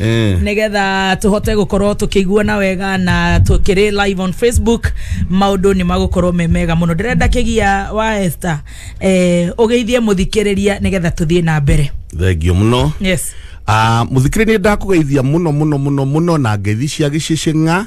Eh. nigetha tuhote gukorwo tukiguana wega na tukiri live on facebook maundu ni magukorwo me mega muno ndirenda kigia wa Esther eh ugeithie muthikiriria nigetha tuthie na mbere thengio muno yes Ah, muthikiri ni ndakugeithia muno muno muno muno na ngeithi cia gicicing'a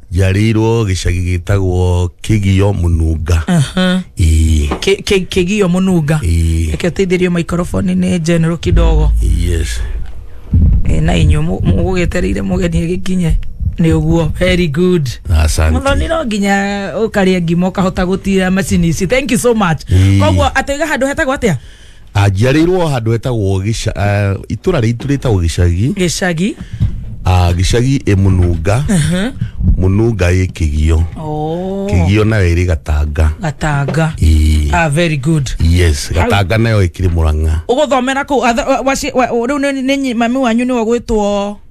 njarĩirwo gĩcagi gĩtagwo kĩgio mũnunga Ĩĩ, Kĩ- kĩ- kĩgio mũnunga Ĩĩ. reke ũteithĩrio maikoroboni nĩ general kidogo yes Eh, na inyuĩ mũ- mũgũgĩetereire mũgeni agĩkinye nĩ ũguo very good asante muthoni no nginya ukaria ngima ukahota gutira macini ici thank you so much Ii. koguo atoiga handu hetagwo atia anjiarĩirwo handå hetagwo gĩca- ah, itũra rĩitũ rĩtagwo gĩcagi gicagi Ah, gĩcagi ĩ mũnunga mũnunga ĩ kĩgio oh. kĩgio nayo ĩrĩ gatanga gatanga Ii. ah, very good yes gatanga nayo ĩkĩrĩ mũrang'a å gå thomera kå u rä u mami wanyu nä we gwä two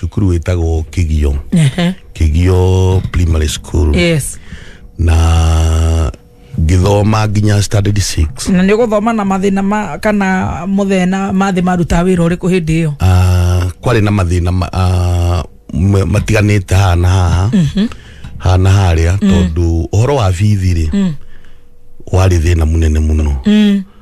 cukuru wĩtagwo kĩgio Ehe. kĩgio primary school yes na ngĩthoma nginya standard 6 na nä gå thoma na mathä na ma, kana må thena mathä marutaga wä ra å rä kå hä ndä ä yo Ah, kwarĩ na mathĩna ma- ah, ma- matiganĩte haha na haha haha na harĩa tondũ ũhoro wa bithi rĩ warĩ thĩna mũnene mũno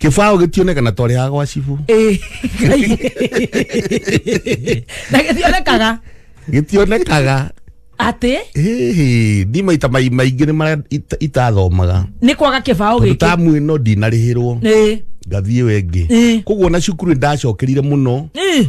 kĩbaũ gĩtionekana twarĩ ha gwa cibu Eh, Ngai. na gĩthionekaga gĩtionekaga atĩ Hĩhĩ, ndi maita mai- maingĩ nĩ marĩa ita- itathomaga nĩ kwaga kĩbaũ tondũ gĩkĩ tamu ĩno ndinarĩhĩrwo Eh, ngathiĩ wengĩ Eh. koguo na cukuru nĩ ndacokerire mũno eh.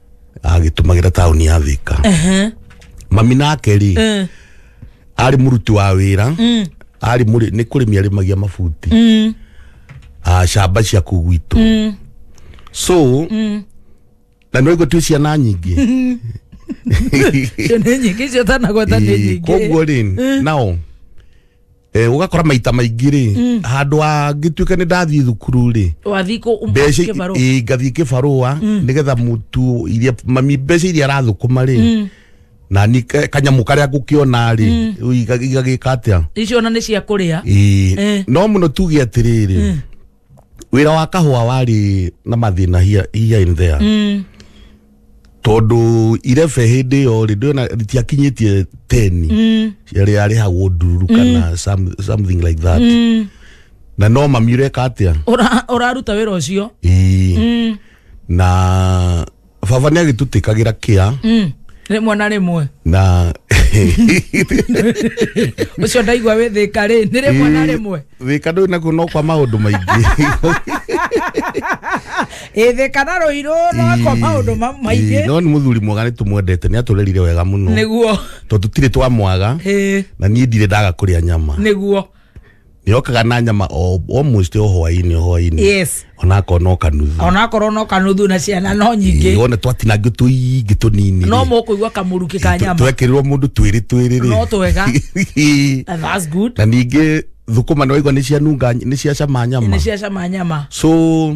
agĩtũmagĩra taũni ya thika Ehe. mami nake rĩ Eh. arĩ mũruti wa wĩra arĩ mũrĩ nĩ kũrĩmi arĩmagia mabuti Mm. ah, shamba cia kũu gwitũ Mm. so na nĩ waigua twĩ ciana nyingĩ Icio nĩ nyingĩ icio tanagweta nĩ Ĩĩ, nyingĩ koguo rĩ nao Eh, ũgakora maita maingĩ rĩ handũ angĩtuĩka nĩ ndathiĩ thukuru rĩ wathiĩ kũ mbeca kĩbarũa ĩ, ngathiĩ kĩbarũa nĩgetha mũtu iria mami mbeca iria arathũkũma rĩ na ni ka- kanyamũ karĩa ngũkĩona rĩ igagĩka atĩa icio ona nĩ cia kũrĩa Ĩ, Eh. no mũno tuge atĩrĩrĩ wira wa kahua wari na mathina here, here and there mm. tondu irebe hindi iyo ri ndona ritiakinyitie teni mm. yari yarihagwo ndururu kana some, something like that mm. na no mami ureka atia Ura- uraruta wira ucio Ii. mm. na baba nä agä tå tä kagä ra kä a Mm. rĩmwe na rĩmwe na ũcio ndaigua wĩ thĩka rĩ nĩ rĩmwe na rĩmwe wä ka ndå nakuo no kwa maå ndå maingä ĩthĩka na rũirũ nokwa maũndũ ma- maingĩ no nä må thuri mwega nä tå mwendete nä atå rerire wega må no nĩguo tondå tirä twamwaga Ĩĩ, na niä ndirä ndaga kå rä a nyama nĩguo yokaga na nyama o almost o hwainĩ o hwainĩ yes ona akona o kanuthu onakorwo no kanuthu na ciana no Ĩĩ, nyingĩ wona twatinangio tũingĩ tũnini no mũkũigua kamũrukĩ ka nyama twekerirwo mũndũ twĩrĩ twĩrĩ rĩ No twega. Ĩĩ. And that's good na ningĩ thũkũma nĩ waigua nĩ cianunga nĩ ciacama nyama nĩ ciacama nyama so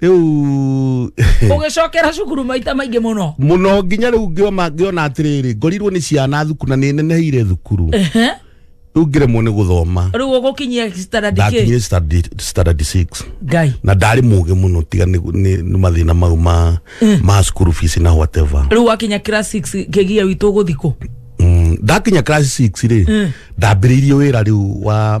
riu ũgĩcokera cukuru maita maingĩ mũno muno nginya riu ngioma ngiona atiriri ngorirwo ni ciana thuku na ni neneheire thukuru Ehe. riu ngiremwo ni guthoma rĩu ũgũkinyia standard kĩ ndakinyire standard- standard 6 ngai na ndarĩ mũgĩ mũno tiga nĩ nĩ- nĩ mathĩna mau ma ma school fees na whatever rĩu wakinya class 6 kĩgia witũ ũgũthikũ Mm, ndakinya class 6 rĩ ndambĩrĩirie wĩra rĩu wa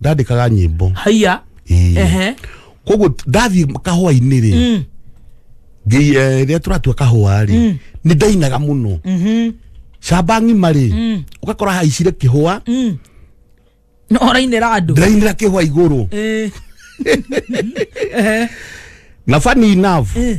ndandĩkaga nyĩmbo haiya Ĩĩ. ehe koguo ndathiĩ kahũa-inĩ rĩ Mm. ngĩ- eh, rĩrĩa tũratua kahũa rĩ nĩ ndainaga mũno Mhm. camba ng'ima rĩ Mm. ũgakora haicire kĩhũa Mm. no ũrainĩra andũ ndĩrainĩra kĩhũa igũrũ Eh. Ehe. na funny enough Eh.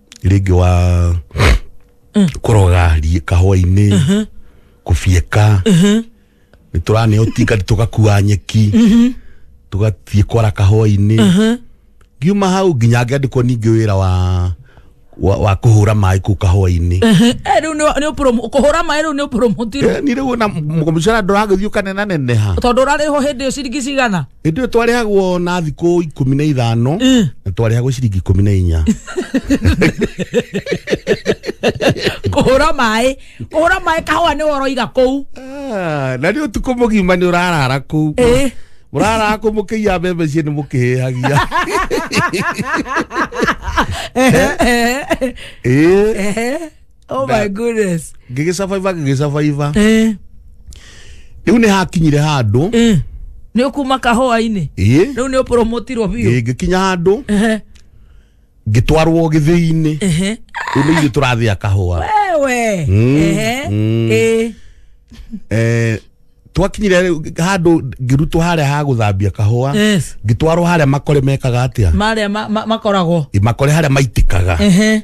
rĩngĩ wa kũroga ri- kahũa-inĩ kũbieka nĩ tũraneo tinga tũgakua nyeki tũgathiĩ kwara kahũa-inĩ ngiuma hau nginya ngĩandĩkwo ningĩ wĩra wa wa, wa kũhũra maĩ kũu kahũa-inĩ Eh, rĩu nĩ- nĩ ũpromo- kũhũra maĩ rĩu nĩ ũpromotirwo Eh, ni rĩu ona mũcara ndũragĩthiĩ ũkanenaneneha tondũ ũrarĩhwo hĩndĩ ĩyo ciringi cigana hĩndĩ ĩyo twarĩhagwo na thikũ ikũmi na ithano na twarĩhagwo ciringi ikũmi na inya kũhũra maĩ kũhũra maĩ kahũa nĩ woroiga kũu Ah, na nĩ ũtukũ mũgima nĩ ũrarara kũu Ĩ. mũrarara kũu mũkĩiya mbembe cie nĩ mũkĩhĩhagia Ĩ. oh Nga- my goodness ngĩgĩcabaiba ngĩgĩcabaiba eh rĩu nĩ hakinyire handũ eh nä å kuma kahåa-inä ĩĩ rä u nä å promotirwo biå ĩĩ, ngĩkinya handũ Ehe, ngĩtwarwo gĩthĩinĩ ehe. rĩu nĩ ithuĩ tũrathĩa kahũa wewe Mm, Ehe, mm. eh, Eh, twakinyire rĩu handũ ngĩrutwo harĩa ha gũthambia kahũa yes. ngĩtwarwo harĩa makore mekaga atĩa marä a makoragwo Ĩ, makore harĩa maitĩkaga Ehe.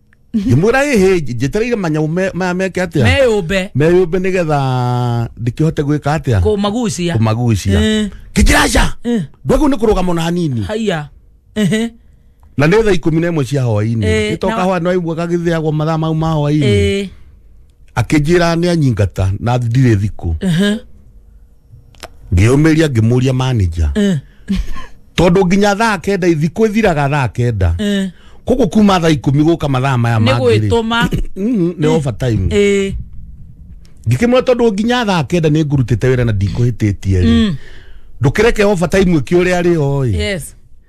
ngimwira hihi njitĩrĩire manyau me- maya meke atĩa meyũmbe meyũmbe nĩgetha ndĩkĩhote gwĩka atĩa kũmagucia kũmagucia Eh. kĩjiraca Eh. ndwagu nĩ kũrũgama na hanini haiya Ehe. na nĩ thaa ikũmi na ĩmwe cia hwainĩ Eh, ĩtoka na- hwa nĩ waigua gagĩthĩagwo mathaa mau ma hwainĩ Eh. akĩnjĩra nĩ anyingata na ndirĩ thikũ Ehe. ngĩyũmĩria ngĩmũria manager tondũ nginya thaa kenda thikũ ĩthiraga thaa kenda koguo kuma thaa ikũmi gũka mathaa maya nĩ mangĩ-rĩ, gwĩtũma mm, nĩ overtime ĩĩ ngĩkĩmwĩra tondũ nginya thaa kenda nĩ ngurutĩte wĩra na ndikũhĩtĩtie rĩ ndũkĩreke overtime ĩkĩũrĩa rĩ oĩ yes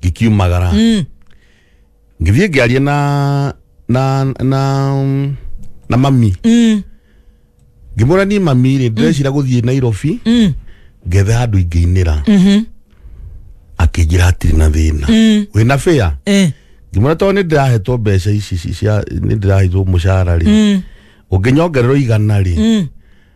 ngikiumagara ngithiĩ ngĩaria na na na na mami Mm. ngĩmwĩra niĩ mami rĩ ndĩrecira gũthiĩ nairobi Mm. ngethe handũ ingĩinĩra Mhm. akĩnjĩra hatirĩ na thĩna Mm. wĩna bĩa Eh. ngĩmwĩra tondũ nĩ ndĩrahetwo mbeca ici ici cia nĩ ndĩrahetwo mũcara rĩ Mm. ũngĩnyongererwo igana rĩ Mm.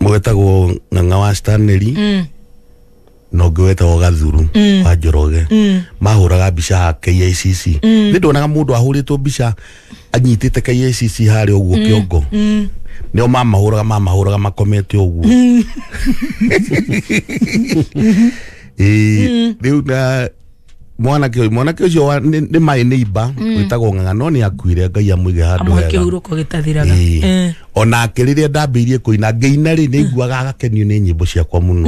mwetagwo ng'ang'a wa stanley Mm. na ũngĩ wetagwo gathuru wa njoroge mahũraga mbica ha kicc nĩ ndonaga mũndũ ahũrĩtwo mbica anyitĩte kicc harĩa ũguo kĩongo nĩo mamahũraga mamahũraga makomete ũguo Ĩĩ, rĩu na mwanake ũyũ mwanake ũcio wa- nĩ nĩ my neighbor wĩtagwo ng'ang'a no nĩ akuire ngai amũige handũ amuhe hega kĩhurũko gĩtathiraga Ĩĩ. Eh. onake rĩrĩa ndambĩirie kũina ngĩina rĩ nĩ nguaga agakenio nĩ nyĩmbo ciakwa mũno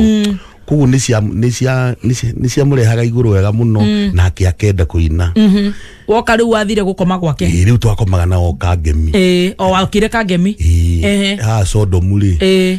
koguo nĩ cia- nĩ cia- nĩ cia- nĩ ciamũrehaga igũrũ wega mũno nake akenda kũina Mhm. woka rĩu wathire gũkoma gwake Ĩĩ, rĩu twakomaga na oka ngemi Ĩĩ, o wakire kangemi Ĩĩ. Ehe. ha sodomu rĩ Ĩĩ.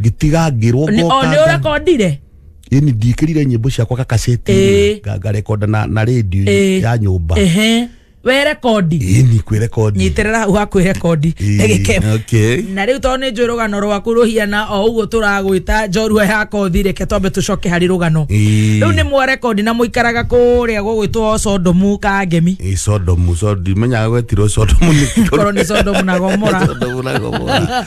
ngitigangirwo Ni- o nĩ ũrakondire ini ndikirire nyimbo ciakwa Ĩĩ. kakaceti ngarekonda na na radio Ĩĩ. ya nyumba Ehe. we rekondi ini kwä rekondi nyitĩrĩra hau hakwĩ rekondi ndagĩka okay na rä u tondå nä njå rå rwaku rå hiana o å guo tå ragwä njorua ya kothi reke twambe tå coke harä rå gano Ĩĩ. rä u nä mwarekondi na må ikaraga kå rä a gå gwä two condomu ka ngemi Ĩ, sodomu sodomu imenyaga gwetirwo sodomu nĩ korwo nä condomu na gomora sodomu na gomora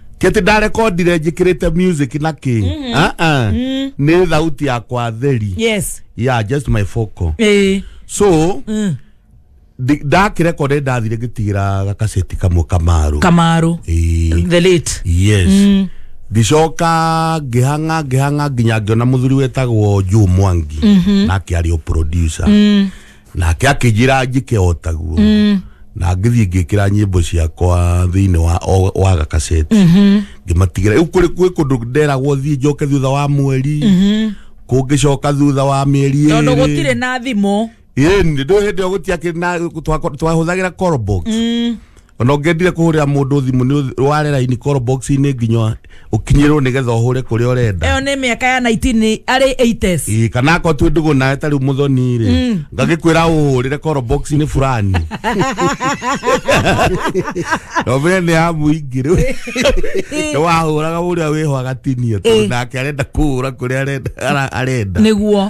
kĩtĩ ndarekondire njĩkĩrĩte music na kĩ Ah, ah. nĩ thauti yakwa theri yes yeah just my focal eh so ndi- ndakirekonde ndathire ngĩtigĩra gakaceti kamwe kamaru kamaru Ĩĩ. the late yes ndicoka ngĩhang'a ngĩhang'a nginya ngĩona mũthuri wetagwo juu mwangi nake arĩ o producer nake akĩnjĩra njĩke o taguo na ngĩthiĩ ngĩkĩra nyĩmbo ciakwa thĩinĩ wa o- wa gakaceti ngĩmatigĩra rĩu kũrĩ kwĩ kũndũ nderagwo thiĩ njoke thutha wa mweri kũngĩcoka thutha wa mĩeri tondå gå tirä ĩrĩ na thimå ĩni ndå hä ndä ä yo gå tiakä twahå thagä ra ona ũngĩendire kũhũrĩra mũndũ thimũ nĩ ware raini call box inĩ nginya ũkinyĩrwo nĩgetha ũhũre kũrĩa ũrenda ĩyo nĩ mĩaka ya 19 arĩ 80s Ĩĩ, kana akorwo twĩ ndũgũ nawe tarĩ mũthoni rĩ ngagĩkwĩra ũhũrĩre call box inĩ fulani nomene nĩ ya mũingĩ rĩu nĩ wahũraga ũrĩa wĩho agatinia tondũ nake arenda kũhũra kũrĩa arenda- ara- arenda nĩguo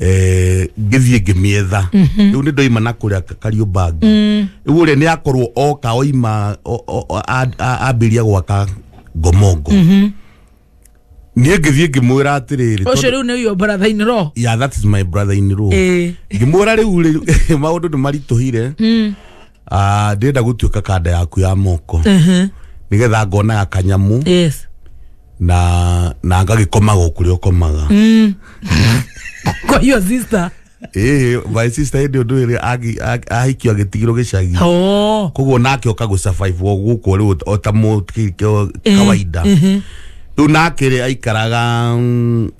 eh, ngĩthiĩ ngĩmĩetha rĩu nĩ ndoima na kũrĩa kariũmbangi rĩu ũrĩa nĩ akorwo oka oima o- o- o- a- a- ambĩria gwaka ngomongo niĩ ngĩthiĩ ngĩmwĩra atĩrĩrĩ ũcio tondũ- rĩu nĩ uyo brother in law yeah, that is my brother in law ĩĩ ngĩmwĩra rĩu rĩ- maũndũ nĩ maritũhire Ah, ndĩrenda gũtuĩka kanda yaku ya moko Ehe, nĩgetha ngonaga kanyamu yes na na ngagĩkomaga o kũrĩa ũkomaga kwa hiyo sister ĩĩ my sister hĩndĩ ũndũ ĩrĩ agi- ag- ahikio agĩtigirwo gĩcagi oh koguo nake oka gũsurvive o gũkũ rĩu o ta mũ- ki- ki- kawaida rĩu nake rĩ aikaraga mm,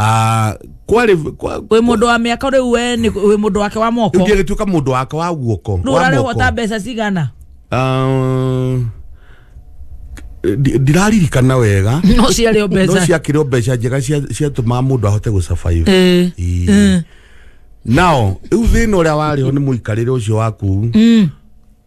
Ah, kwarĩ kwa- wä må ndå wa mä aka rä u we nĩ- wĩ mũndũ wake wa moko rĩu ngĩgĩtuĩka mũndũ wake wa guoko nä å wa rarä moko. hota mbeca cigana Ah, ndi- ndiraririkana wega no ciarä o no mbeca ciakĩrĩ o mbeca njega cia- ciatũmaga mũndũ ahote gũcabayo Ĩĩ. Ĩĩ. nao rĩu thĩna ũrĩa warĩ ho nĩ mũikarĩre ũcio waku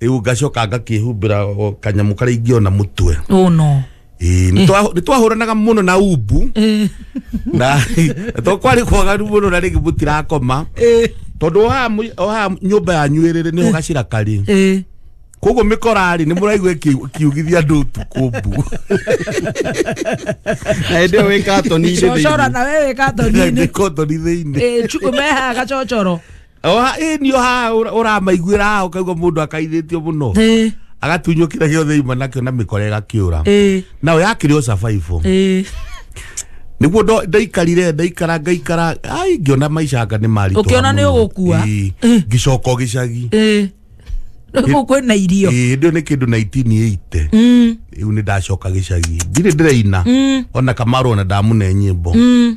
rĩu ngacoka ngakĩhumbĩra o kanyamũ karĩa ingĩona mũtwe oh no Ĩĩ, nĩ twa- nĩ twahũranaga mũno na umbu Eh, na to kwarĩ kwagaru mũno na rĩngĩ mũtirakoma eh, tondũ oha mũ- oha nyũmba yanyu ĩrĩrĩ nĩho gacira karĩ eh. koguo mĩkorarĩ nĩ mũraigua ĩkĩ- ĩkiugithia andũ ũtukũ mbu na hĩndĩ ĩyo wĩ katoni-inĩ cocora thĩinĩ na wewe katoni-inĩ kotoni thĩinĩ Eh, chu- mehaga gacocoro Oha, ĩ nio haha ũra- ũramaiguĩra haha ũkaigua mũndũ akaithĩtio mũno ĩ agatunywo kĩrĩa gĩothe ima nakĩo na mĩkora ĩgakĩũra ĩ nayo yakĩrĩ o cabaibũ ĩ nĩguo ndo- ndaikarire ndaikara ngaikara ai ngĩona maicanga nĩ maritũ Ũkĩona nĩ ũgũkua? ngĩcoka o gĩcagi ĩ rĩu kwĩ na irio Ĩĩ, hĩndĩ ĩyo nĩ kĩndũ 1980 Mm, rĩu nĩ ndacoka gĩcagi ndirĩ ndĩraina mm, ona kamaro ona ndamune nyĩmbo mm.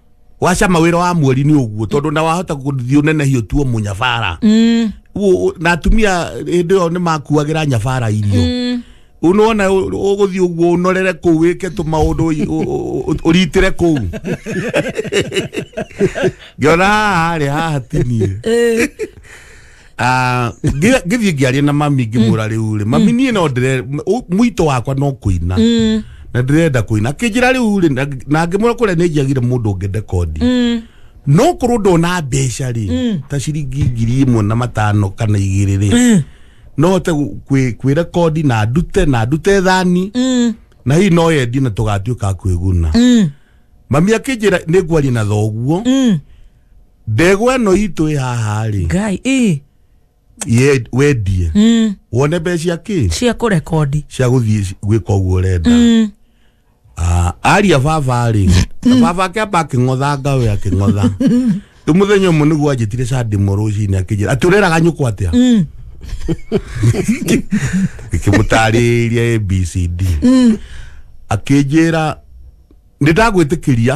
waca mawira wa mweri ni uguo tondu na wahota guthii unenehio tuo munyabara mm. Wo- na atumia hindi yo ni makuagira nyabara irio mm. unona uguthii uguo unorere kuu wike tu maundu uritire kuu ngiona haha rĩ haha tinie Eh, Ah, ngi- ngithiĩ ngĩaria na mami ngĩmwĩra rĩu rĩ mami niĩ no ndĩre ũ- mũito wakwa no kũina na ndĩrenda kũina akĩnjĩra rĩu rĩ na- na ngĩmwĩra kũrĩa nĩ njiagire mũndũ ngende kondi no korwo ndona mbeca rĩ ta ciringi ngiri ĩmwe na matano kana igĩrĩ rĩ no hote gũ- kwĩ- kwĩra kondi na ndute na ndute thani na hihi no yendi na tũgatuĩka a kwĩguna mami akĩnjĩra nĩ ngwaria na thoguo ndegwa ĩno itũ ĩ haha rĩ ngai ĩ ye- wendie mm, wone mbeca cia kĩ cia kũrekondi cia gũthiĩ gwĩka ũguo ũrenda mm, Ah, aria baba rĩ na baba akĩamba akĩng'otha ngawe akĩng'otha rĩu mũthenya ũmwe nĩguo anjĩtire candĩmo rũcinĩ akĩnjĩra atĩ ũreraga nyũkwa atĩa mm, ikimutaariria abcd akĩnjĩra nĩndagwĩtĩkĩria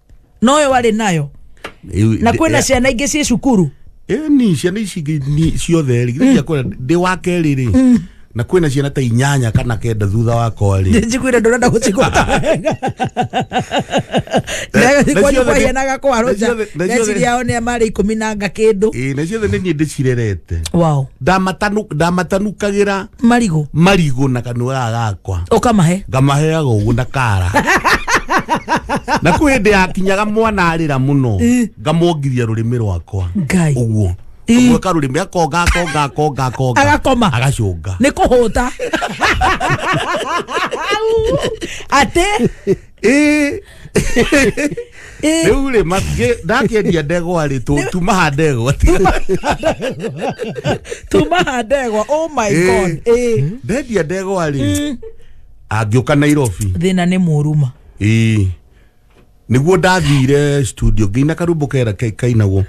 noyo warĩ nayo Ĩu- na ndĩ- kwĩna ciana ingĩ ciĩ cukuru ĩyo ni ciana ici ingĩ ni ciothe rĩ githĩ ciakwa ndĩ wa kerĩ rĩ na kwĩna ciana ta inyanya kana kenda thutha wakwa rĩ njiguire ndũrenda gũcigũta wega Na ciothe kwanyu nĩ- kwahianaga kwa na roja ciothe- na ciothe- meciria yao nĩ marĩ ikũmi na nga kĩndũ Ĩĩ, na ciothe nĩ niĩ ndĩcirerete wow ndamatanukagira marigũ marigũ na kanua gaka gakwa ũkamahe ngamaheaga ũguo na kara na kwĩ hĩndĩ yakinyaga mwana arĩra mũno ngamwongithia rũrĩmĩ rwakwa ngai ũguo Ĩ. ũguo karũrĩmĩ akonga akonga akonga akonga Agakoma. agacũnga nä kå hå ta atä Ĩ. rĩu rĩ ndakĩendia ndegwa rĩ tũ- tumaha ndegwa tumaha ndegwa oh my Ĩ. god ĩ ndendia ndegwa rĩ angĩũka nairobi thĩna nĩ mũruma Ĩĩ. nĩguo ndathire studio ngĩina karumbo kera ke- kainagwo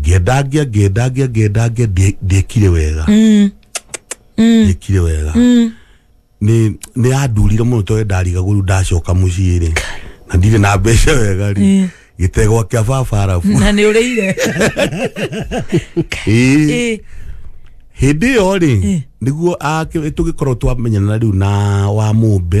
ngĩenda ngĩa ngĩenda ngĩa ngĩenda ngĩa ndie- ndiekire wega ndiekire wega nĩ nĩ yandurire mũno tondũ ndarigagũru ndacoka mũciĩ rĩ na ndirĩ na mbeca wega rĩ gĩtegwa kĩa baba arabu na nä å rä ire Ĩĩ. hĩndä ä yo rä nä guo tå gä korwo twamenyana rä u na wa må mbe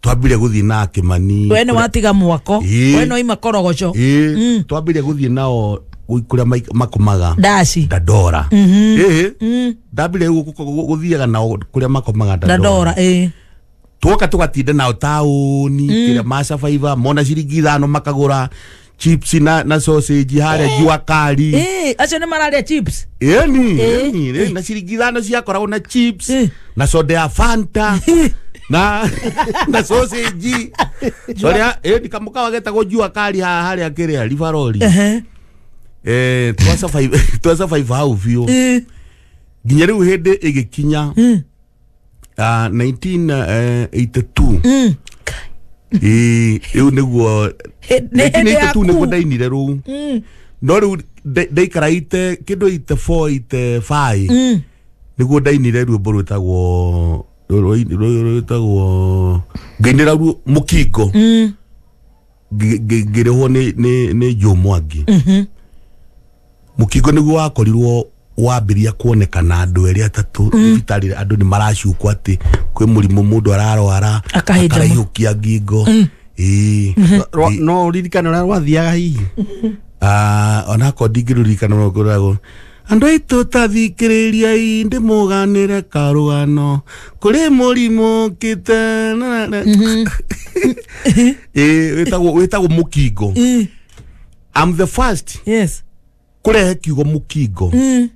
twambire guthii na kimani we nä watiga mwako Ĩĩ. we no ima korogoco ii twambire guthii nao kuria makomaga ndaci ndandora ii ndambire guthiaga nao kuria makomaga ndandora ndandora ä twoka tugatinda nao taũni kä rä a macabaiba mona ciringi ithano makagå ra chips na na sausage haria jua kari Eh, acio nä mararä chips yani Eh. yani eh, na ciringi ithano ciakoragwo na chips Eh. na soda ya fanta na na sausage soda eh nikamuka wagetagwo jua kari ha haria kiria rivarori Ehe. eh twasa five twasa five hau biũ Eh, nginya rĩu hĩndĩ ĩgĩkinya eh. Ah, 1982 Mm. ĩĩ ĩu nĩguo Hĩ- nĩ hĩndĩ 1982 yaku. nĩguo ndainire rũu Mm. no rĩu nda- ndaikara ite kĩndũ ite four ite five Mm. nĩguo ndainire ruombo rwĩtagwo rwĩtagwo ngainĩra ruo mũkingo Mm. ngĩ- ngĩ- ngĩrĩhwo nĩ- nĩ nĩ Joe mwangi mũkingo nĩguo wakorirwo wambĩria kuonekana andũ erĩ atatũ thibitarĩ andũ nĩ maracukwo atĩ kwĩ mũrimũ mũndũ ararwara Akahĩnja ma- akaraihũkia ngingo Ĩĩ. Rwa- Ĩĩ. no ririkane ũrĩa rwathiaga hihi Ah, onako ndingĩrurikana no ngoragwo andå aitå tathikĩrĩriai ndä må ganä re karå kå rä må rimå kä te Eh, wĩtagwo wĩtagwo mũkingo Eh, I'm the first yes kũrehe kiugo mũkingo Mm.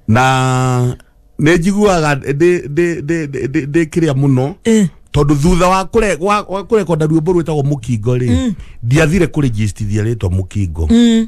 na nĩ njiguaga ndĩ- ndĩ- ndĩ- ndĩ- ndĩ kĩrĩa mũno Eh, tondũ thutha wa kũre- wa- wa kũrekonda ruĩmbo rwĩtagwo mũkingo rĩ ndiathire kũrĩjistithia rĩtwa mũkingo mm.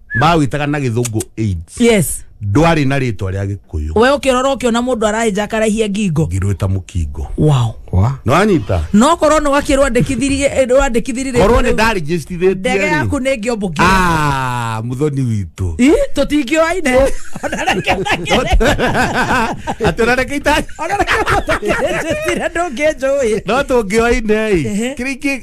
mawĩtaga na gĩthũngũ AIDS yes ndwarĩ na rĩtwa rĩa gĩkũyũ we ũkĩrora ũkĩona mũndũ araenja akarahia ngingo ngirwĩta mũkingo wow wa nĩwanyita no korwo nĩ wakĩrwo andĩkithirie eh, wandĩkithirie rĩtwa korwo nĩ rĩu, ndarĩgĩcitithĩtie ndege yaku nĩ ngĩombo ngĩ Ah, mũthoni witũ Ih, tũtingĩoaine Ona reke ndagere. atĩ ũrareke ita Ona reke mũndũ ũngĩnjĩtire ndũngĩnjũĩ no tũngĩoine Ehe. kĩrĩa ingĩ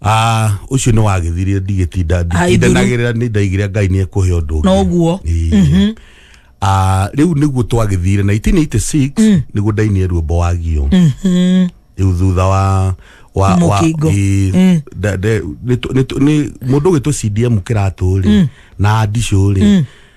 Ah, ucio ni wagithire ndigitinda Ai, nduru. nditindanagirira ni ndaigire ngai ni ekuhe undu ungi Noguo. Ii. Ah, riu niguo twagithire 1986 niguo ndainie ruombo wagio riu thutha wa wa wa Mũkingo. ii, nda- nda- nĩ tũ- nĩ tũ- nĩ- mũndũ ũgĩtũ CDM kĩratũ rĩ na ndicũ rĩ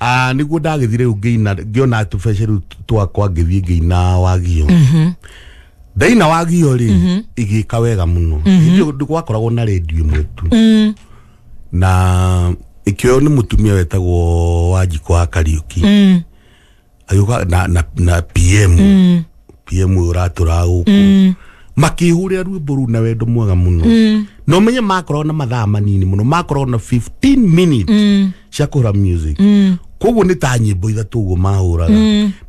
Ah, niguo ndagĩthiĩ rĩu ngĩina ngĩona tũbeca rĩu twakwa ngĩthiĩ ngĩina wagio ndaina wagio rĩ igĩka wega mũno hĩndĩ ĩyo gwakoragwo na redio ĩmwe tu na ĩkĩoywo nĩ mũtumia wetagwo wanjikũ wa kariũki agĩũka na, na, na pm pm ũyũ ũratũraga gũkũ makĩhũrĩra rwĩmbo rũu na wendo mwega mũno na ũmenye makoragwo na mathaa manini mũno makoragwo na 15 minutes cia kũhũra music koguo nĩ ta nyĩmbo ithatũ ũguo mahũraga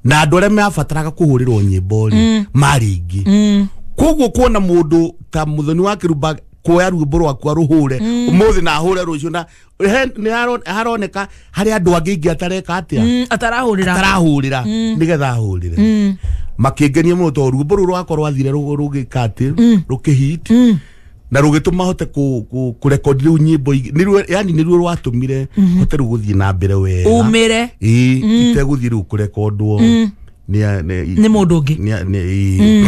na andũ arĩa mabataraga kũhũrĩrwo nyĩmbo rĩ marĩ aingĩ koguo kuona mũndũ ta mũthoni wa kĩrumba kuoya rwĩmbo rwakwa rũhũre ũmũthĩ na hũre rũciũ na He- nĩharo- haroneka harĩ andũ angĩ ingĩ atareka atĩa Mm, atarahũrĩra atarahũrĩra nĩgetha ahũrĩre Mm, makĩngenia mũno tondũ ruombo rũu rwakorwo athire rũ- rũgĩka atĩ rũkĩhit mm, na rũgĩtũma hote kũ- kũ- kũrekondi rĩu nyĩmbo ingĩ Nĩruo- yani nĩruo rwatũmire hote rĩu gũthiĩ na mbere wega umĩre ĩĩ itegũthiĩ rĩu kũrekondwo nĩ a- nĩ- nĩ mũndũ ũngĩ nĩ a- nĩ- ĩĩ.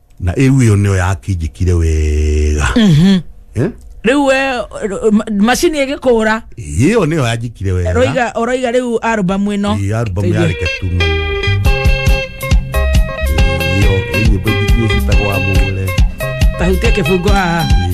na ĩu ĩyo nĩyo yakinjĩkire wega Eh? rä u macini ä gä kå ra ĩyo nĩyo yanjĩkire wega roiga å roiga rä u arbamu ä no Ĩĩ, album yarĩ Ketumo. Ĩyo, ĩĩ, nyĩmbo ingĩ iria ciĩtagwo wa mũgũre tahutie kä bungo haha Ĩĩ.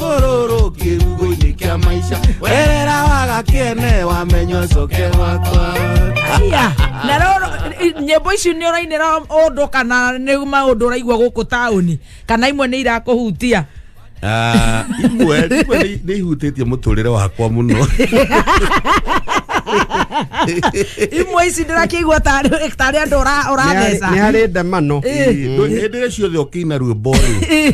rũrũ kĩrugo-inĩ kĩa maica werera waga kĩene wamenywo coke wakwa Aya, na roro nyĩmbo ici nĩ ũrainĩra ũndũ kana nĩ maũndũ ũraigua gũkũ taũni kana imwe nĩ irakũhutia Ah, imwe imwe nĩ- nĩ ihutĩtie mũtũrĩre wakwa mũno imwe ici ndĩrakĩigua tarĩ tarĩ andũ ũra- ũratheca nä harä ndemano Ĩ, ndũ- hĩndĩ ĩrĩa ciothe ũkĩina ruo mborĩ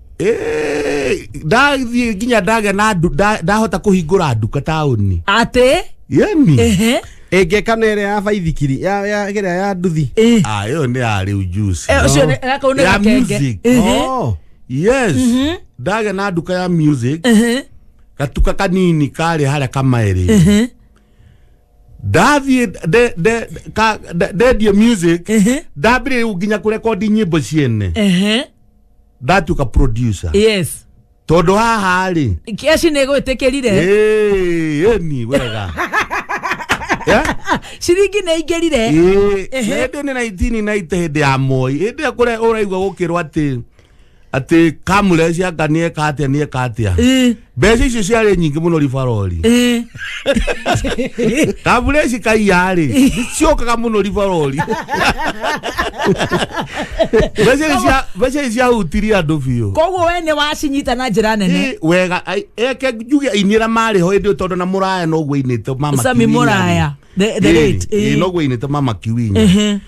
Eh, ndathiĩ nginya ndagĩa na ndu- nda- ndahota kũhingũra nduka taũni atä yani ehe ĩngĩka na ĩrĩa ya baithikiri ya ya ĩrĩa ya nduthi Eh. Ah, ĩyo nĩ ya rĩu juice. Eh, ũcio nĩ- na kau nĩ Ya gakenge. music. Ehe. Oh. yes ndagĩa na nduka ya music Ehe. gatuka kanini karĩ harĩa kamaĩrĩ Ehe. ndathiĩ nde- nde- ka- nde- ndendie music Ehe. ndambĩrĩria nginya kũrekondi nyĩmbo ciene Ehe. that uka producer yes tondu haha ri keci nä gå ä tä kä rire Eh, eni wega Eh? ciringi nä ingä rire Ehe. hĩndĩ nĩ naitini naite hĩndĩ ya moi hĩndĩ ĩyo kũrĩa ũraigua gũkĩrwo atĩ atĩ kamũre cianga nĩeka atĩa nĩeka atĩa mbeca icio ciarĩ nyingĩ mũno ribarori Eh, kabura ici kaiyarĩ ciokaga mũno ribarori mbeca ici cia- mbeca ici ciahutirie andũ biũ koguo we nĩ wacinyita na njĩra nene Ĩ, wega ai- eke njuge ainĩra marĩ ho ĩndĩ tondũ na mũraya noguo ainĩte mama sami Kiwinya. mũraya the, the Ĩ, late ĩ, eh. noguo ainĩte mama kiwinya Ehe.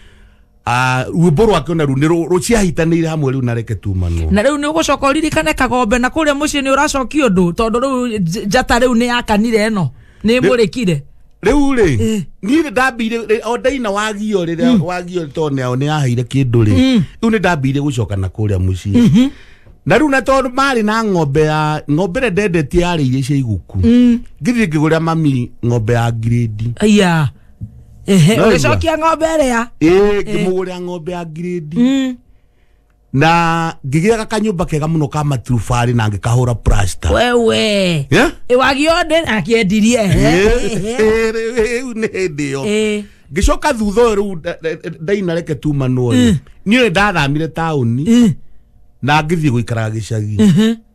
Ah, rwimbo rwake ona ru ni ru ciahitanire hamwe riu nareke tumanwo na riu ni ugucoka uririkane kagombe na kuria mucii ni uracokia undu tondu riu nj- njata riu ni yakanire ino ni imurikire riu ri ni ndambire o ndaina wagio riria wagio tondu ni ao ni ahaire kindu ri riu ni ndambire gucoka na kuria mucii na riu na tondu mari na ng'ombe ya ng'ombe ria ndendetie yarä iria cia iguku ngithie ngä gå rä ra mami ng'ombe ya gredi aya Ehe, No, ũgĩcokia ng'ombe ĩrĩa ĩĩ ngĩmũgũrĩra ng'ombe ya ngirĩndi Mm. na ngĩgĩaga kanyũmba kega mũno ka maturubarĩ na ngĩkahũra plasta wewe Yeah? wagionde akiendirie Ĩĩ, rĩu nĩ hĩndĩ ĩyo Eh. ngĩcoka thutha ũyũ rĩu nda- nda- ndainareke tumanwo rĩ niĩ ndathamire taũni na ngĩthiĩ gũikaraga gĩcagi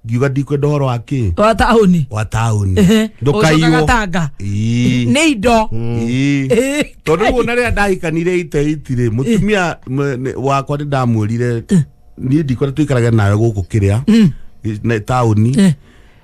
ngiuga ndikwenda ũhoro wa kĩ wa taũni wa taũni Ũcokaga ndũkaiywo tanga Ii. nĩ indo Ii. Ĩĩ. tondũ rĩu ona rĩrĩa ndahikanire iteitire mũtumia m- nĩ- wakwa nĩ ndamwĩrire niĩ ndikore tũikarage nawe gũkũ kĩrĩa na taũni Eh.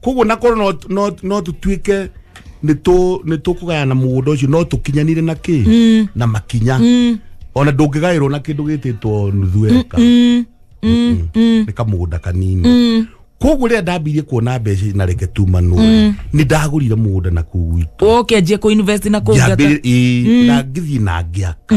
koguo nakorwo no- no- no tũtuĩke nĩ tũkũgayana mũgũnda ũcio no tũkinyanire na kĩ na makinya ona ndũngĩgaĩrwo na kĩndũ gĩtĩtwo nuthu eka nĩ kamũgũnda kanini koguo rĩrĩa ndambirie kuona mbeca na reke tumanwo nĩ ndagũrire mũgũnda na kuu gwitũ ũkĩanjia kũ invest na kũngata ngĩambĩrĩria na ngĩthiĩ na ngĩaka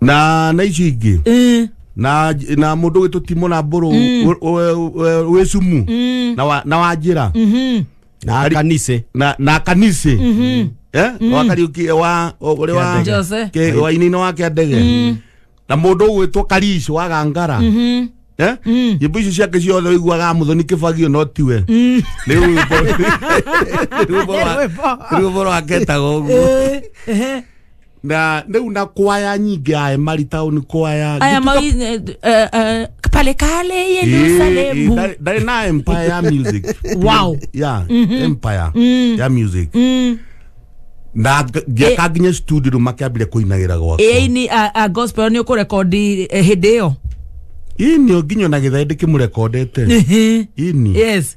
na na ici ingĩ Eh, na na må ndå gä tå timå na mbå rå wä cumu mm, na wa- na wa njä ra mhm. na kanise na na kanisi eh wa kariuki wa ore wa Jose. ke wa inino wa kia ndege na mundu ugwitwo karish wa gangara Mhm. eh Mm. nyimbo icio ciake ciothe wiguaga muthoni kibagio no tiwe Mm. ni rwimbo rwimbo wa Rwĩmbo. rwimbo rwa ketaga uguo Eh, ehe. na rĩu na kwaya nyingĩ ae mari taũni kwaya aya Gĩtuka- mawi eh, eh, eh, pale kale Ĩĩ, ĩĩ, yerusalemu ndarĩ- ndarĩ na empire ya music Wow. ya empire ya music na nga- ngĩaka nginya studio rĩu makĩambire kũinagĩra gwakwa ĩini a gospel nĩ ũkũrekondi eh, hĩndĩ ĩyo ini nginya na githaĩ ndikimũrekondete ini yes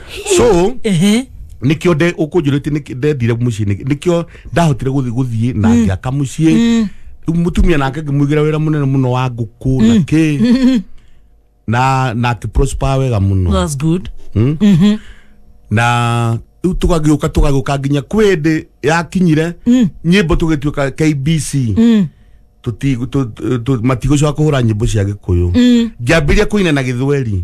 so Ehe. nikio nde ukunjurite ndendire mucii nikio ndahotire guthi guthii na ngiaka mucii riu mutumia nake ngimwigira wira munene muno wa nguku na ki na na akiprosper wega muno That's good. Mm? na riu tugagiuka tugagiuka nginya kwi ndi yakinyire nyimbo tugituika kbc tuti tu- tu- tu- matigũcoka kũhũra nyĩmbo cia gĩkũyũ ngĩambĩria kũina na gĩthweri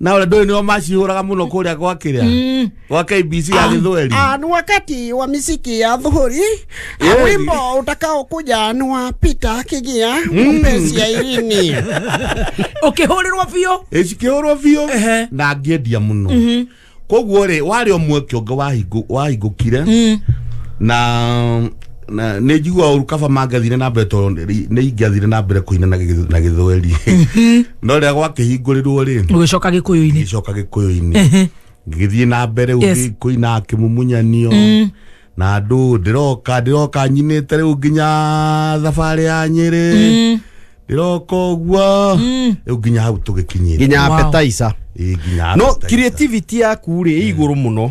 na ole ndoĩ nĩo macihũraga mũno kũrĩa gwa kĩrĩa gwa KBC ya gĩthweri Ah, ni wakati wa miziki ya dhuhuri Yeah. Ah, wimbo utakaokuja ni wa Peter Kigia mpenzi ya Irini ukihurĩrwo biũ ĩcikĩhũrwo biũ Ehe. na ngĩendia mũno koguo rĩ warĩ o mweke ũngĩ wahingũ- wahingũkire na na nä njigua å ru kaba mangathire na mbere tondå nä ingathire na mbere kå inana na gä thweri no rä a gwakĩhingũrĩrwo rä ũgĩcoka gĩkũyũ-inĩ gĩcoka gĩkũyũ-inĩ ngĩgĩthiĩ na mbere Yes. yes. kũina kĩmumunyanio mm. na andũ ndĩroka ndĩroka nyinĩte rĩu nginya thabarĩ ya nyĩrĩ mm. ndĩroka ũguo mm. rĩu nginya hau tũgĩkinyĩte nginya Wow. appetizer Ĩ, nginya no appetizer. creativity yaku rĩ ĩ igũrũ mũno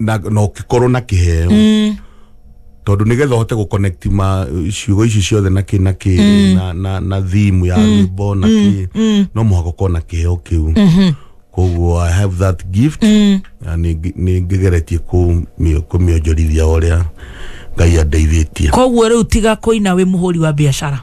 na na ũkĩkorwo na kĩheo tondũ nĩgetha ũhote gũconnect ma ciugo ici ciothe na kĩ na kĩ na, na, na thimu ya rwĩmbo na kĩ no mũhaka ũkorwo na kĩheo kĩu koguo i have that gift na nĩ- nĩ ngĩgeretie kũmĩ- kũmĩonjorithia ũrĩa ngai andeithĩtie koguo rĩu tiga kũina wĩ mũhũri wa biacara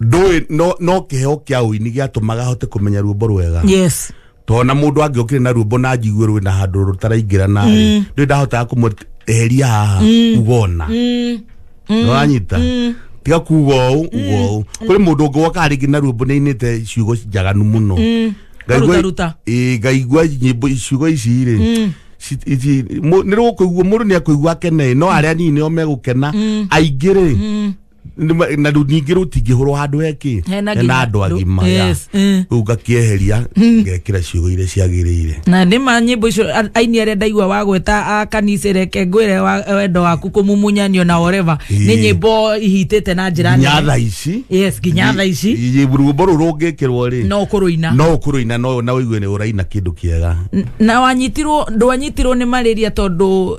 ndũĩ no no kĩheo kĩa ũini gĩatũmaga ahote kũmenya ruombo rwega yes tona mundu angi ukire na ruombo na njigue rwina handu rutaraingira na ri ndu ndahotaga kumueheria haha ugona nuranyita tiga kuga uu uga uu kuri mundu ungi woka ringi na ruombo ninite ciugo njaganu muno Ngaigua- Rutaruta. Ĩĩ, ngaigua nyimbo ciugo ici rĩ nä rå kå igua må ndå nä akå igua akene no arä a nini nä o megå kena aingä rä Nĩma- na rĩu ningĩ rĩu tingĩhũrwo handũ hekĩ Hena hena nginya andũ andũ. agima ya. Yes, eh. rĩu ngakĩeheria ngekĩra ciugo iria ciagĩrĩire na nä ma nyä mbo icio a- aini arä a ndaigua wagweta a kanisa reke ngwä re wa- wendo waku kå mumunyanio na oreva nä Ĩĩ. nyä mbo ihitä na njä ra nginya tha ici yes nginya tha ici Ĩ- ĩ- rwĩmbo rũu rũngĩkĩrwo rĩ no kå rå ina no ũkå rũina no na ũigue nĩ ũraina kĩndũ kĩega na wanyitirwo ndwanyitirwo nä marä ria tondå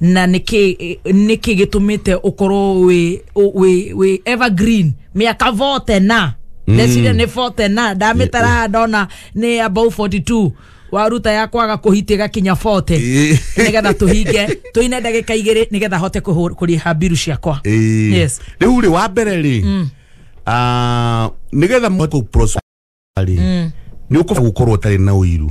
na niki niki gitumite ukorwo wi wi wi evergreen miaka vote na ndeciria ni vote na ndamitara haha ndona ni above 42 waruta ya kwaga kuhiti gakinya vote Eh. nigetha tuhinge tuine ndagika igiri nigetha hote kuhur- kuriha mbiru ciakwa Eh, yes rĩu rĩ wa mbere rĩ ah, nĩgetha mũhote kũ- prosper rĩ nĩ ũkũba gũkorwo ũtarĩ na ũiru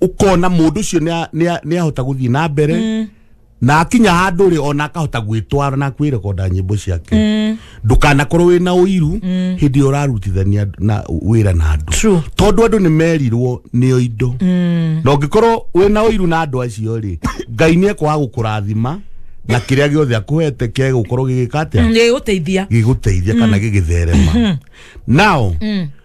ukona mundu ucio ni ahota guthii na mbere mm. na akinya handu ri ona akahota gwitwara na kwirekonda nyimbo ciake mm. ndukanakorwo wi na uiru mm. hindi iyo urarutithania na wira na andu True. tondu andu ni merirwo nio indo mm. na ungikorwo wi na uiru na andu acio ri ngai ni ekwaga gukurathima na kiria giothe akuhete kiage gukorwo gigika atia nä gå teithia giguteithia kana gigitherema now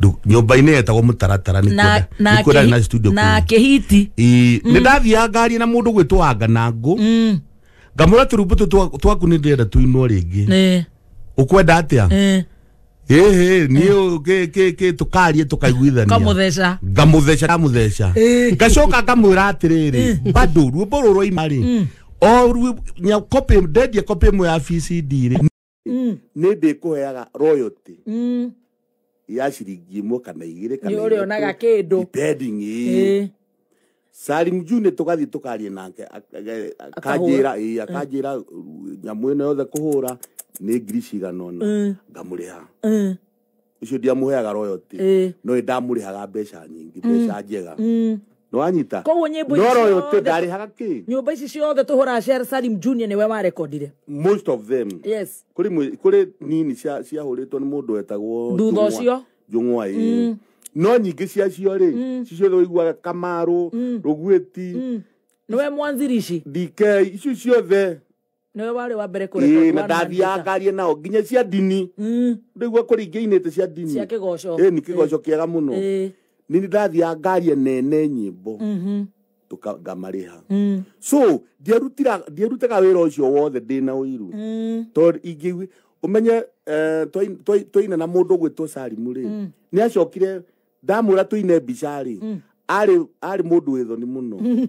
Ndu- nyũmba-inĩ yetagwo mũtaratara nĩ na kuo nda- na nĩ kuo ndarĩ na studio na kũu. kĩhiti Ĩ, nĩ ndathiaga ngari na mũndũ gwĩtwo anga na ngũ Mm, ngamwĩra tũrumbu tũ twa- twaku nĩ ndĩrenda tũinwo rĩngĩ eh, ũkwenda atĩa eh, ĩhĩ niĩ ũ- kĩ- kĩ- kĩ- tũkarie tũkaiguithania kamũtheca ngamutheca ndamutheca Eh. ngacoka ngamwira atiriri bado ruo bororo imari o ruo nya copy ndendia copy imwe ya VCD ri Mm, nä ndä kå heaga royalty mm. ya ciringi ĩmwe kana igĩrĩ kana Nĩ ũrĩonaga ithatũ, kĩndũ. depending, ĩĩ. Ĩĩ. Salim June tũgathiĩ tũkaria nake akanjĩra ĩĩ akanjĩra nyamũ ĩno yothe kũhũra nĩ ngiri cigana ũna ngamũrĩha Mm. ucio ndiamuheaga royalty Eh. no nĩ ndamũrĩhaga mbeca nyingĩ mbeca njega nĩ wanyita Koguo nyĩmbo no icio royalty othe- ndarĩhaga kĩ nyumba ici ciothe tũhũraga cia salim junior nĩwe warekondire most of them yes kuri mwe- kuri nini cia ciahũrĩtwo nĩ mũndũ wetagwo Thutha Njũng'wa- ũcio. njũng'wa ĩ no nyingĩ ciacio rĩ cicio ũiguaga kamarũ rũgwĩti nĩwe mwanzirici dk icio ciothe nĩwe warĩ wa mbere kũreka Ĩĩ, na Quran ndathiaga maandĩka. ngarie nao nginya cia ndini Mm, ndaigua kũringĩa inĩte cia ndini cia kĩgoco Ĩĩ, nĩ kĩgoco kĩega mũno Ĩĩ, nĩ ndathiaga ngarie nene nyĩmbo mhm, tũka- ngamarĩha mm, so ndierutira- ndierutaga wĩra ũcio wothe ndĩ na ũiru mm, tondũ ingĩ ũmenye eh, twai- twai- twaina na mũndũ ũgwĩtwo salimu rĩ nĩ acokire ndamwĩra tũine mbica-rĩ Mm. arĩ arĩ mũndũ wĩ thoni mũno Mm.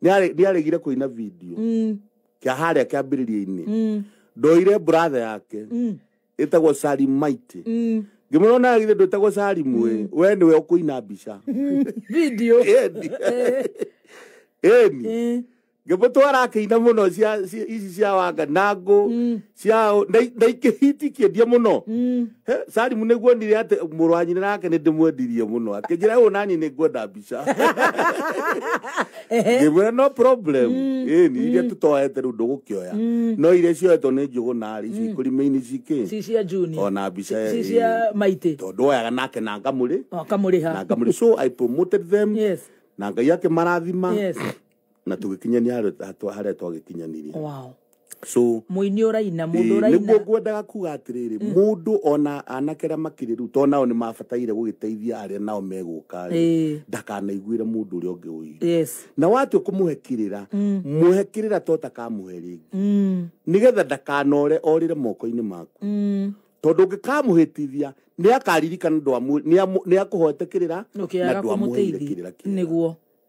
Nĩare- nĩaregire kũina video Mm. kĩa harĩa kĩambĩrĩria-inĩ Mm. ndoire bratha yake Mm. ĩtagwo salimaiti Mm. ngĩmwĩra ona githĩ ndwĩtagwo salimu ĩ we nĩwe ũkũina mbica video Ĩni. Eh. ĩni Eh. ngĩmũtũ arakĩina mũno cia- cia- ici cia wanga na ngũ cia ndaikĩhitikie ndie mũno He, salimu nĩguo nire atĩ mũrũ wa nyina nake nĩ ndĩmwendirie mũno akĩnjĩra ũũ nani nĩ ngwenda mbica ngĩmwĩra no problem ĩni iria tũtoete rĩu ndũgũkĩoya no iria cioetwo nĩ njũgũ narĩ ici ikũrima-inĩ cikĩ si cia juni Ona mbica, si eh, cia maitĩ tondũ woyaga nake na ngamũrĩ na akamũrĩha ngamũrĩ so i promoted them Yes. na ngai akĩmarathima Yes. na tũgĩkinyania harĩa- hatwa- harĩa twagĩkinyanirie wow so muini uraina mundu niguo uraina ngwendaga kuga atĩrĩrĩ mũndũ ona anake arĩa makĩrĩ rĩu to nao nĩ mabataire gũgĩteithia arĩa nao megũka Ĩĩ. ndakanaiguĩre mũndũ ũrĩa ũngĩ ũiru yes na watua kũmũhe kĩrĩra mũhe kĩrĩra to takamũhe rĩngĩ mm, nĩgetha ndakanore orĩre moko-inĩ maku mm, tondå ngä kamũhätithia nä akaririkana nä akåhoete kä rä ra na ndwamũheire kä rä ra niguo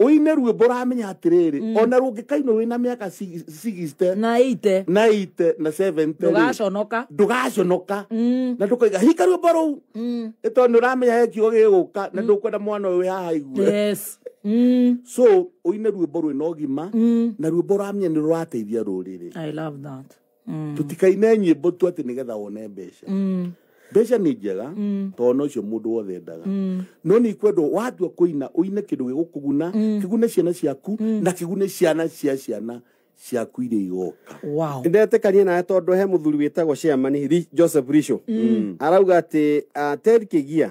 ũine ruĩmbo ũramenya atĩrĩrĩ mm. ona rũngĩkainwo wĩna mĩaka sigiste na ite na ite na sevente ndũgaconoka ndũgaconoka mm. na ndũkaiga hika ruĩmbo rũu mm. ĩtondũ nĩ ũramenya he kiugo gĩgũka na ndũkwenda mwana ũyũ wĩ haha igue so ũine ruĩmbo rwĩna ũgima na ruĩmbo ũramenya nĩ rũrateithia rũrĩrĩ tũtikaine nyĩmbo tu atĩ nĩgetha wone mbeca mbeca nĩ njega tondũ nocio mũndũ wothe endaga no nĩ ikwendwo watua kũina ũine kĩndũ gĩgũkũguna kĩgune ciana ciaku na kĩgune ciana cia ciana ciaku iria igoka wow ndetĩkanie nawe tondũ he mũthuri wĩtagwo chairman Ri- joseph risho arauga atĩ ah, ted kĩgia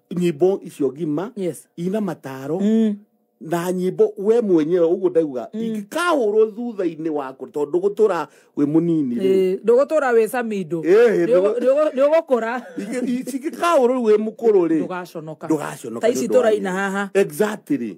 nyimbo icio ngima Yes. ina mataro Mm. na nyimbo we mwenyewe uguo ndauga ingikahurwo thutha-inĩ waku tondu gutura wi munini ri Eh, ndũgũtũra wĩ samindo Eh, ndũgũ- ndũgũkũra cingikahurwo ri wi mukuru ri ndũgaconoka Ndũgaconoka ta ici nĩ ũndũ wa tũraina nyĩmbo. haha exactly